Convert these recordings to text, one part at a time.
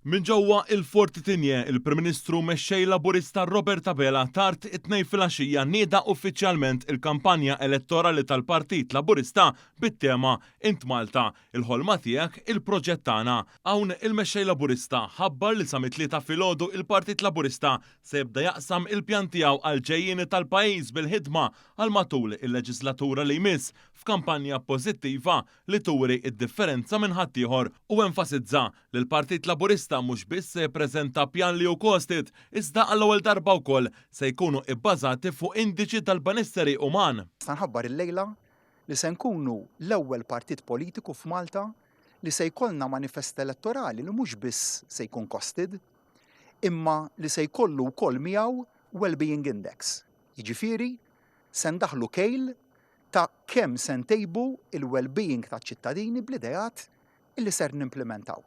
Minn ġewwa il-Fortitigne, il-Prim Ministru u Mexxej Laburista Robert Abela tard it-Tnejn filgħaxija nieda uffiċjalment il-kampanja elettorali tal-Partit Laburista bit-tema Int Malta, il-ħolma tiegħek, il-proġett tagħna. Hawn il-Mexxej Laburista ħabbar li sa mit-Tlieta filgħodu il-Partit Laburista se jibda jaqsam il-pjan tiegħu għall-ġejjieni tal-pajjiż bil-ħidma għal matul il-leġislatura li jmiss f'kampanja pożittiva li turi d-differenza minn ħaddieħor u enfasizza li l-Partit Laburista mhux biss se jippreżenta pjan li hu costed iżda għall-ewwel darba wkoll se jkunu ibbażati fuq indiċi tal-benesseri uman. Nista' nħabbar illejla li se nkunu l-ewwel partit politiku f'Malta li se jkollna manifest elettorali li mhux biss se jkun costed imma li se jkollu wkoll miegħu wellbeing index, jiġifieri se ndaħħlu kejl ta' kemm se ntejbu l-wellbeing taċ-ċittadini bl-ideat li ser nimplimentaw.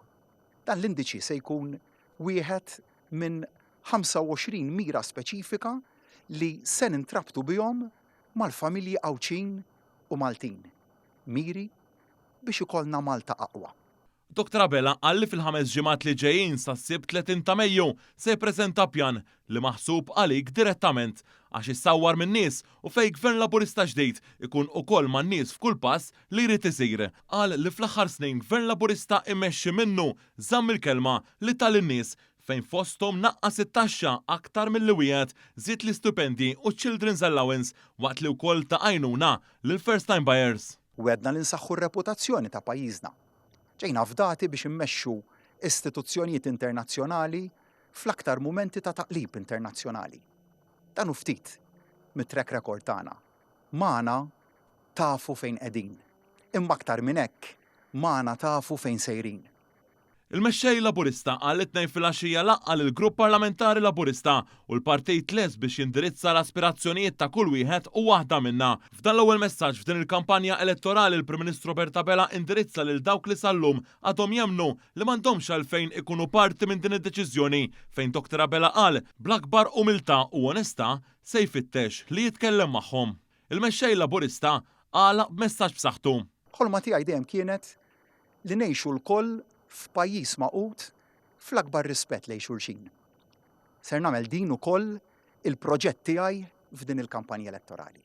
Dan l-indiċi se jkun wieħed minn 25 mira speċifika li se nintrabtu bihom mal-familji Għawdxin u Maltin. Miri biex ikollna Malta aqwa. Dr Abela qal li fil-ħames ġimgħat li ġejjin sas-Sibt 30 ta' Mejju se jippreżenta pjan li maħsub għalik direttament għax issawwar min-nies u fejn Gvern Laburista ġdid ikun ukoll man-nies f'kull pass li jrid isir. Qal li fl-aħħar snin Gvern Laburista immexxi minnu żamm il-kelma li ta lin-nies fejn fosthom naqqas it-taxxa aktar milli wiegħed, żied l-istipendji u ċ-children's allowance waqt li wkoll ta għajnuna lill-first time buyers. Wegħdna li nsaħħu r-reputazzjoni ta' pajjiżna Ġejna fdati biex immexxu istituzzjonijiet internazzjonali fl-aktar mumenti ta' taqlib internazzjonali. Dan hu ftit mit-track record tagħna. Magħna tafu fejn qegħdin. Imma aktar minn hekk, magħna tafu fejn sejrin. Il-Mexxej Laburista qal it-Tnejn filgħaxija laqqa' lill-Grupp Parlamentari Laburista u l-partit lest biex jindirizza l-aspirazzjonijiet ta' kull wieħed u waħda minna. F'dan l-ewwel messaġġ f'din il-kampanja elettorali l-Prim Ministru Robert Abela indirizza lil dawk li sal-lum għadhom jemmnu li m'għandhomx għalfejn ikunu parti minn din id-deċiżjoni fejn Dr Abela qal bl-akbar umiltà u onestà se jfittex li jitkellem magħhom. Il-Mexxej Laburista għalaq b'messaġġ b'saħħtu. Ħolma tiegħi dejjem kienet li ngħixu lkoll f'pajjiż magħqud fl-akbar rispett lejn xulxin. Ser nagħmel din ukoll il-proġett tiegħi f'din il-kampanja elettorali.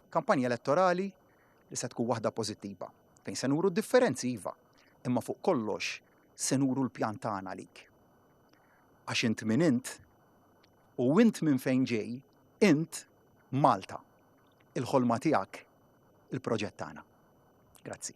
Kampanja elettorali li se tkun waħda pożittiva, fejn se nuru differenzi iva, imma fuq kollox se nuru l-pjan tagħna għalik. Għax int min int u int minn fejn ġej, int Malta, il-ħolma tiegħek, il-proġett tagħna. Grazzi.